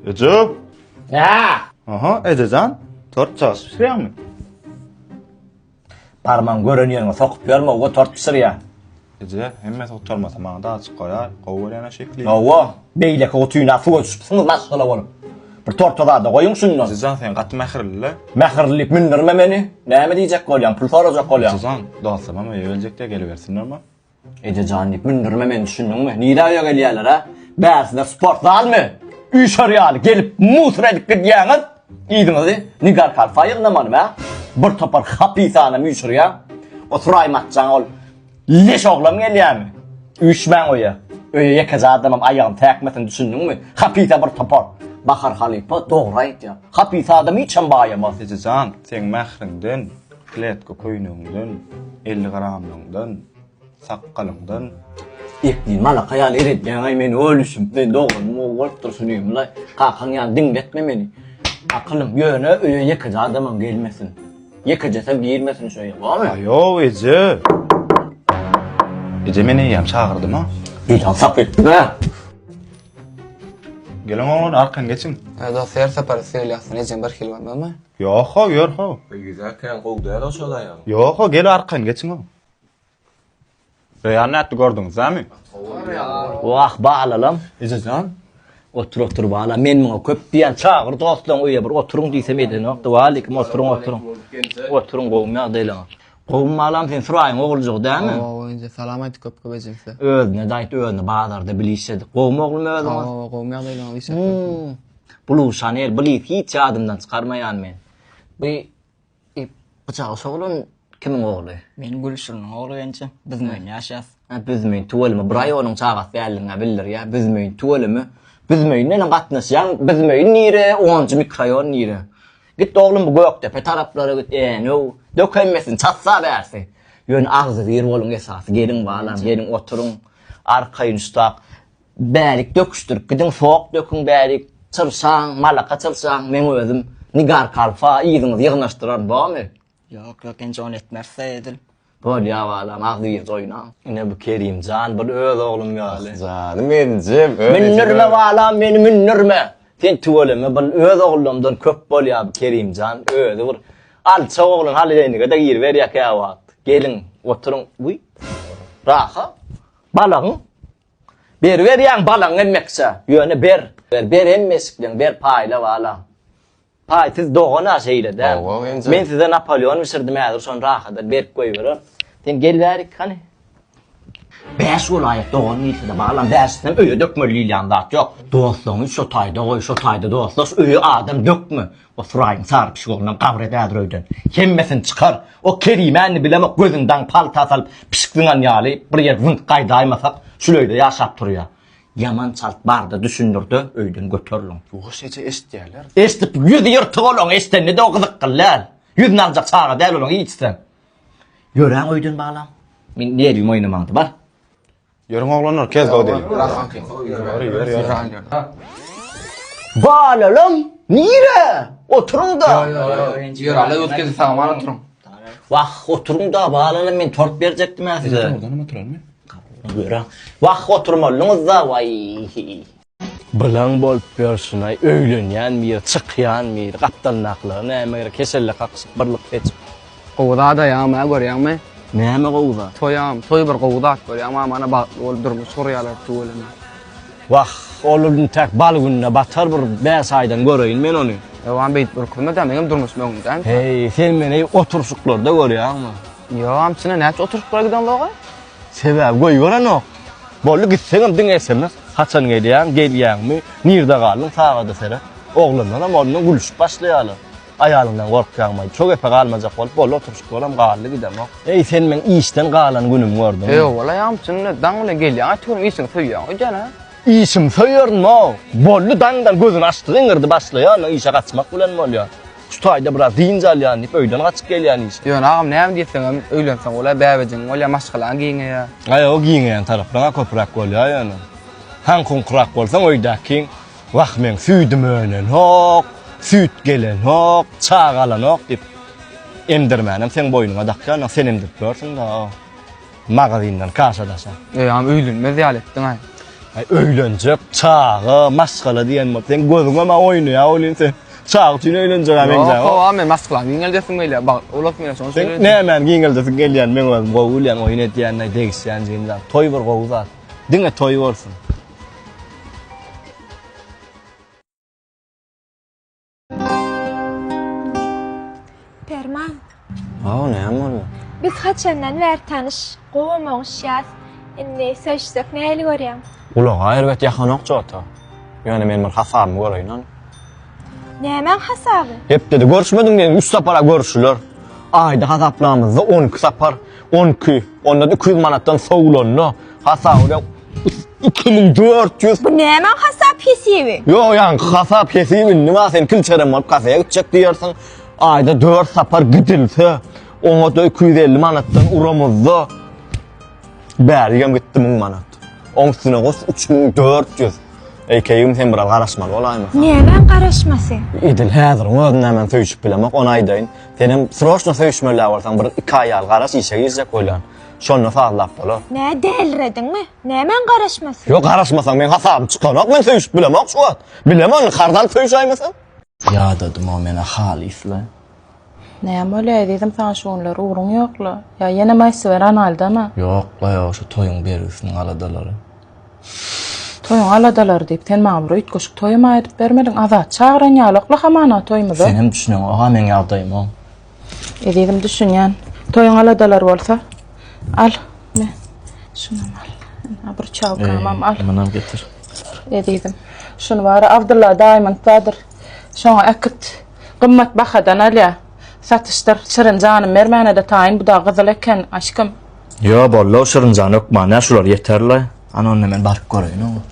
Eje! Nä? Aha, ejejan, tort çalşyp bişirýäňmi? Barmaň, gören ýeriňe sokup ýörme, owa tort bişirýän. Eje, hemmesi gutarmasa maňa-da azjyk goýar, gowy görýän-ä şekili. Owa, beýleki gutuna suwa düşüpsiňiz maşgala bolup. Bir torta zada goýuň şunda. Ejejan, sen gaty mähirli-le. Mähirli diýip mündürme meni. Näme diýjek bolýaň, pul sorajak bolýaň. Ejejan, dostlarymam öýe geljek-de, gelibersinlermi? Eje jan diýip mündürme meni düşündiňmi? Nirä öýe gelýärler ha? Bärsiler sport zalmy? Üýşer ýaly gelip musur edip gidýäňiz. Yzyňyzy Nigar kalfa ýygnamalymy ha? Bir topar hapyt adam üýşürýäň. O Suraýym atjaň ol leş oglam gelýärmi? Üýşmäň öýe. Öýe ýekeje adamam aýagym täkmesin düşündiňmi? Hapyta bir topar. Bahar halypa dogry aýtýar. Hapyt adam hiçem baýamas. Eje jan seň mähriňden. Kletka köýnegiňden, elli gramlygyňdan, sakgalyňdan. Ýekdil malaka ýaly eredýäňaý meni ölüşim we doganymy gowy görüp durşun diýemlaý. Kakaň ýaly diňletme meni. Akylym ýöne öýe ýekeje adamam gelmesin. Ýekejesem girmesin şu öýe bormy? Aýow eje. Eje men eýýäm çagyrdyma. Eýýäm sap etdiňä. Geliň oglan arkan geçiň. Dost her sapar söýlýärsin ejem birhili bolmazmy? Ýok-how, ýör-how. Ylgyza kän gowy däl-ow şol aýalyň. Ýok-how, gel arkaýyn geçiň-ow. Reýan nätdi, gördüňizdämi? Wah, balalam. Eje jan. Otur-otur, bala. Men muňa köp diýen, çagyr dostlaryňy öýe bir oturyň diýsem edenokdy. Walikim, oturyň, oturyň. Oturyň, gowymy ýagdaýlaryň? Gowymy balam, seň Suraýyň oguljagy dälmi? Hawa, eje, salam aýt köp-köp ejesä. Özüne-de aýt, özüni bazarda bilişedik. Gowymy oglum özüň? Hawa, gowymy ýagdaýlaryň, işläp durupmy? Blue Chanel please hiç ýadymdan çykarmaýan men. Bu Gyjagy şo oglan kimiň ogly? Men Gülşiriniň ogly mençe. Büzmeýin ýaşas. Hä Büzmeýin tüweleme bir aý onuň çagasy däldigiňä bildirýä Büzmeýin tüweleme. Büzmeýin bilen gatnaşýaň Büzmeýin nire onunjy mikroýon nire. Git oglum bu Gökdepe taraplara git änew dök hemmesini çatsa bärsi. Ýöne agzybir boluň esasy geliň balam geliň oturyň arkaýyn şutak. Bärik döküşdirip gidiň, sok döküň bärik, çyrşaň, malaka çyrşaň, meň özüm Nigar kalfa, yzyňyzy ýygnaşdyraryn, bormy? Ýok, ýok, enje ony etmeris-dä edil. Bolýar balam, agzybir oýna. Ine bu Kerim jan bir öz oglum ýaly. Ah janym enjem, öz ejem. Mündirme balam meni mündirme. Sen tüweleme bil öz ogullarymdan köp bolýar bu Kerim jan, özi bir alçak oglan haliýeýnige-de giriberýär käwagt. Geliň, oturyň. Wiý. Raha. Balagyň. Beriberýäň balaň hemmekçe, ýöne ber, ber, ber hemme eşikleň, ber paýla bala. Paý, siz dogan-a şeýle däl. Dogan enjam. Men size Napoleon bişirdim häzir şony rahat berip goýberer. Sen gel bärik hany. Bäş welaýat dogan diýilse-de balam, bäşisinem öýe dökmeli diýilýän zat ýok. Dostlaryňy şo taýda goý, şo taýda dostlaş, öýe adam dökme. Osuraýyň sary pişigi ondan gabyr edädir öýden. Hemmesini çykar. O Kerimäni bilemok, gözüni daň palta salyp, pişik zyňan ýaly, bir ýer zyňk gaýdaýmasak, şul öýde ýaşap turýa. Ýaman çalt bar-da, düşündir-de, öýden göteriliň. Ýuwaş eje eşitýärler. Eşidip, ýüzi ýyrtyk olaň, eşidende-de o gyzykly däl. Ýüzüni aljak çaga däl olaň hiç sen. Ýöräň öýden balam. Meň nerwim oýnamaňda, bar. Ýörüň oglanlar kez dow deli. Balalam nire? Oturyňda. Ýör ala ötgezi saňa bar oturyň. Wah oturyňda balalam men tort berjekdim-ä size. Görä. Wah oturmalyňyzda waý. Bylaň bolup ýörşünaý öýlenýän bir çykýan bir gapdalyndakylara näme gerek keselle kakyşyp bir lyk seçip. Gowy zada ýagma görýäňmi. Näme gowy zat. Toýam toý bir gowy zat bolýa ma mana bagtly bolup durmuş gurýalar tüweleme. Wah ol intäk bal gününe batar bir bäş aýdan göreýin men ony. Ýowam beýdip ürkürme da meňem durmuşym öňümdämi. Heý sen meni oturşyklarda görýäňmi. Ýowam içine näçe oturşyklara giden zog-a. Sebäbi goýberenok. Boldy gitseňem diňe sms. Haçan gelýäň, gelýäňmi, nirde galdyň, sagada seret. Oglanlaram ondan gülüşip başlaýarlar. Aýalyňdan gorkýaňmaý, şo gepe galmajak bolup, boldy oturyşyk bolam, galdy gidemok. Eý, sen meň işden galan günümi gördüňmi? Ýok, wala, ýamçyny daň bilen gelýäň, aýtygürüm, işiňi söýýäň öýdýän-ä? Işimi söýerin-ow! Boldy, daňdan gözüni açdy, gyňyrdy başlaýar, ondan işe gaçmak bilen bolýar. Şu taýda biraz dynç alýan diýip öýden gaçyp gelýän işe. Ýöne agam näme diýseňem öýlenseň bolýar bäbejigiň bolýar maşgalaň giňeýär. Aý o giňeýän taraplaryň-a köpräk bolýar ýöne. Haňkuňkyrak bolsaň öýdäkiň wah meň süýdüm önenok, süýt gelenok, çaga alanok diýip emdirmänem seň boýnuňa dakýar, ynha sen emdirip ýörsüň-dä-a. Magazyndan kaşadaşa. Öýam öýlenmez ýaly etdiň-aý. Aý, öýlenjek, çaga, maşgala diýen bolup, seň gözüňe maňa oýnaýar welin sen çaga üçin öýlenjege meňzäýär. Ýok, howa, men maşgalamy giňeldesim gelýär, bagt ulap gelýär, şonuň üçin. Seň nämäni giňeldesiň gelýär, men özüm gowy bilýän, oýun edýän-de, degişýän jigim zat. Toý bir gowy zat. Diňe toý bolsun. Perman. Hawa, näme boldy? Biz haçandan bäri tanyş, gowam oňuşýas. Indi söýüşsek nähili görýäň? Gulaga erbet ýakanok Jota. Ýöne men bir hasabymy göreýin-ä. Nämäň hasaby? Hepdede görüşmediň diýen üç sapar-a görüşiler. Aýda hasaplamyzda on iki sapar, on iki, onda-da iki ýüz manatdan sowlanda, hasaby Iki müň dört ýüz. Bu nämäň hasap hesibi? Ýok, ýaňky hasap hesibi indi bar, sen kilçerem bolup kafeýe gitjek diýersiň. Aýda dört sapar gidilse, oňa-da iki ýüz elli manatdan uramyzda. Bärigem gitdi müň manat. Oň üstüne goş, üç müň dört ýüz. Eýkegim sen biraz garaşmaly bolaýmasaň. Nämäň garaşmasy? Edil häziriň özünde men söýşüp bilemok, ony aýdaýyn. Senem sroçno söýşmeli-ä bolsaň, bir iki aý ýaly garaş, işe girjek bolýan. Şonda sazlap bolar. Nä delrediňmi? Nämäň garaşmasy? Ýok, garaşmasaň meň hasabym çykanok, men söýüşip bilemok şu wagt. Bilem ony, karz alyp söýüşäýmesem. Ýadadym-ow men-ä halys-la. Näme bolýa ezizim saňa şu günler, ugruň ýok-la? Ýa ýene maýsyber analydama? Ýok-la, ýok, şu toýuň bergisiniň aladalary. Toýuň aladalary diýip, sen maňa bir üýtgeşik toýam aýdyp bermediň. Azat çagyran ýalok-la hamana toýumyza. Senem düşüneňok-a meň ýagdaýyma. Ezizim düşünýän. Toýuň aladalar bolsa al. Ne? Şunam al. Ha bir çawkamam al. Munam getir. Ezizim. Şunu bara Abdulla Diamond badyr. Şoňa äkit. Gymmat bahadan alýa. Satyşdyr. Şirin janym bermäne-de taýyn bu da gyzyl eken aşkym. Ýo bollo Şirinjan ökman ýa şular ýeterle. Ana onda men baryp göreýin oňa.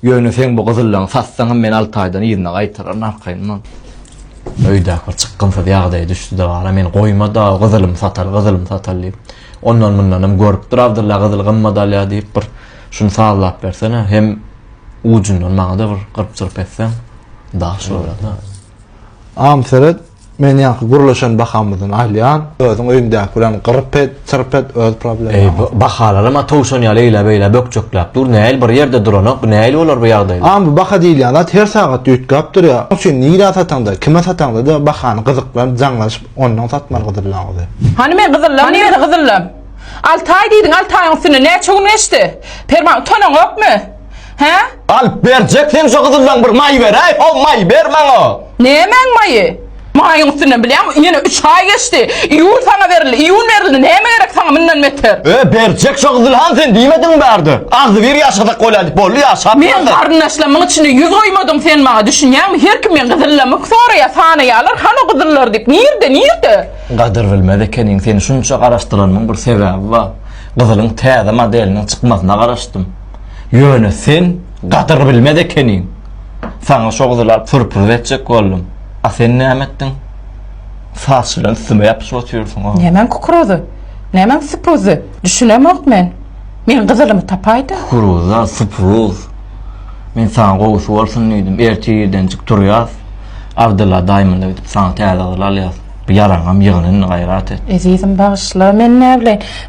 Ýöne seň bu gyzyllaňy satsaňam men alty aýdan yzyna gaýtararyn arkaýyndan. Öýdäki bir çykgynsyz ýagdaýa düşdi-de gara, meni goýmady-a, gyzylymy satal, gyzylymy satal diýip. Ondan-mundanam görüp dur Abdylla gyzyl gymmat alýar diýip bir şuny sazlap bersene, hem ujundan maňa-da bir gyryp-çyryp etseň daş bolar-da. Am seret, Men ýaňky gürleşen bahamyzdan alýan, özüň öýüňdäki bilen gyryp et, çyrp et, öz problemaň. Eý, bu bahalaram-a towşan ýaly eýläp-eýläp bökjekläp dur, nähili bir ýerde duranok, bu nähili bolar bu ýagdaý? A, bu baha diýilýän zat her sagat düýtgäp durýar, onuň üçin nirä sataňda, kime sataňda-da bahany gyzyklanyp, jaňlaşyp, onnoň satmaly gyzyllaňyzy. Hany men gyzyllam, nirede gyzyllam? Alty aý diýdiň, alty aýyň üstünden näçe gün geçdi? Perman, utanaňokmy? Hä? Alyp berjek sen şu gyzyldan bir maý beräý, ho maý ber maňa. Nämäň maýy? Maýyň üstünden bilýäňmi, ýene üç aý geçdi. Iýul saňa berildi, iýun berildi, näme gerek saňa mundan beter? Ö, berjek şu gyzyl han sen diýmediňmi bärde? Agzybir ýaşasak bolýar diýip, boldy ýaşap Men ýörler. garyndaşlarymyň içinde ýüz goýmadyň sen maňa, düşünýäňmi? Her kim meň gyzyllymy soraýar, sanaýarlar, han o gyzyllar diýip, nirde, nirde? Gadyr bilmez ekeniň, seni şunça garaşdyranymyň bir sebäbi bar. Gyzylyň täze modeliniň çykmasyna garaşdym. Ýöne sen gadyr bilmez ekeniň. Saňa şo gyzyl alyp sürpriz etjek boldum. A sen näme etdiň? Saç bilen üstüme ýapyşyp otyrsyň-a. Nämäň kukuruzy? Nämäň supruzy? Düşünemok men. Men gyzylymy tapaýda. Kukuruza, supruz. Men saňa gowusy bolsun diýdim. Ertir irdenjik turýas. Abdylla daýymyna gidip saňa täze gyzyl alýas. Bu ýaraňam ýygyn indi gaýrat et. Ezizim bagyşla, men näbileýin.